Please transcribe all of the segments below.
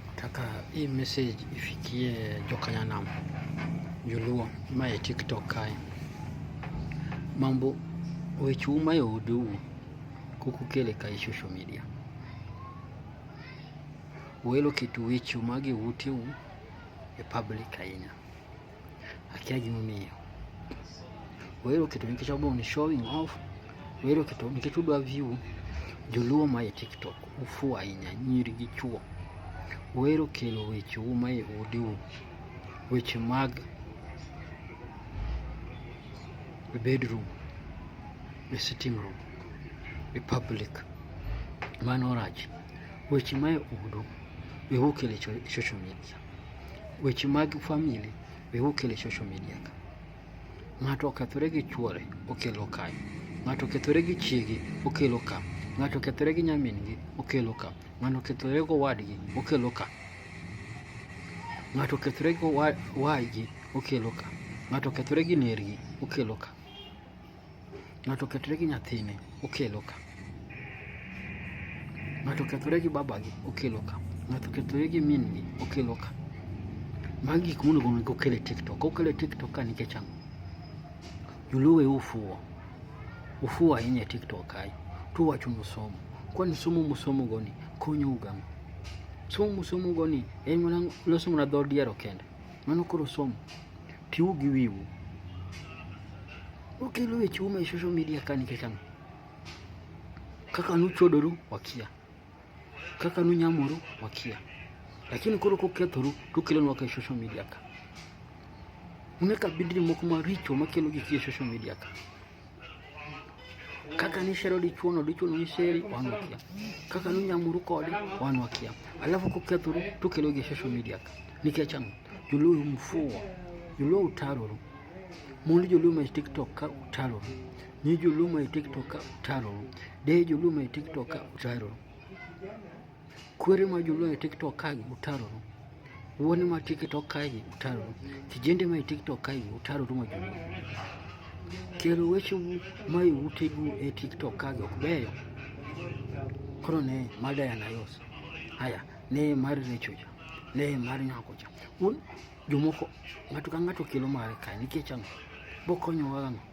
Nataka hii message ifikie Jokanyanam Joluo mae TikTok kae. Mambo wechu mayo udu kukukele kai social media. Welo kitu wechu magi utiu e public ahinya. akia gimomiyo wero keto nikech abong ni showing off wero keto nikech udwa view joluo ma e tiktok ufu ahinya nyiri gi chuo wero kelo weche u ma e odeu weche mag e bedroom e sitting room e public mano rach weche ma e odu e okelo e social media Weche mag famili be okele social media ka. Ng'ato okethore gi chuore okelo kae. Ng'ato okethore gi chiege okelo ka. Ng'ato okethore gi nyamin-gi okelo ka. Ng'ato okethore gi owadgi okelo ka. Ng'ato okethore gi owadgi okelo ka. Ng'ato okethore gi nergi okelo ka. Ng'ato okethore gi nyathine, okelo ka. Ng'ato okethore gi babagi, okelo ka. Ng'ato okethore gi min gi, okelo ka. Magi gik monego onego okel e TikTok. Okel e TikTok ka nikech ang'o? Joluo e ufuwo. Ufuwo ahinya e TikTok kae. To uwacho musomo. Kwani somo musomo goni konyo ugang'o? Somo musomo goni en mana loso mana dho diero kende. Mano koro somo. Piu gi wiwu. Ukelo weche ume social media kani kekano. Kaka nuchodoru wakia. Kaka nunyamoru wakia. Lakini koro kokethoru tukelo nwa ka social media ka. Uneka bidri moko maricho makelo gik e social media ka. kaka ni shero dichuono dichuono ni sheri wan wakia kaka ni nyamuru kode wan wakia alafu kokethuru tukelo gi social media ka nikech ang'o joluo mfuwa joluo utaroru mond joluo ma tiktok ka utaroru nyi joluo ma tiktok ka utaroru de joluo ma tiktok ka utaroru Kwere ma joluo e TikTok ka utaroru. Wuone ma TikTok ka utaroru. Kijende ma e TikTok ka utaroru ma joluo. Kero weche ma e utegu e TikTok ka ok beyo. Koro ne mada ya nayos. Haya, ne mar recho ja. Ne mar nyako ja. Un jomoko ng'ato ka ng'ato kelo mare kae nikech ang'o? Bokonyowa ang'o?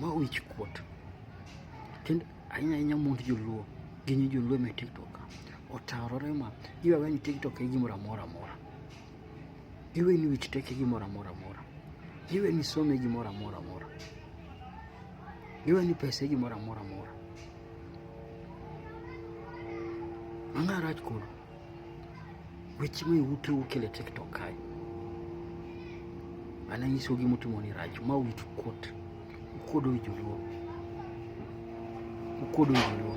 Ma wich kuot. Kendo ahinya ahinya mond joluo gi nyi joluo me TikTok otarore ma giwawe ni TikTok e gimoro amora amora. Giwe ni wich tek e gimoro amora amora. Giwe ni some gimoro amora amora. Giwe ni pesa e gimoro amora amora. Ang'arach koro. weche ma iwuto ukele tiktok kae ana nyiso gi mutimo ni rach ma wit kot ukodo joluo ukodo joluo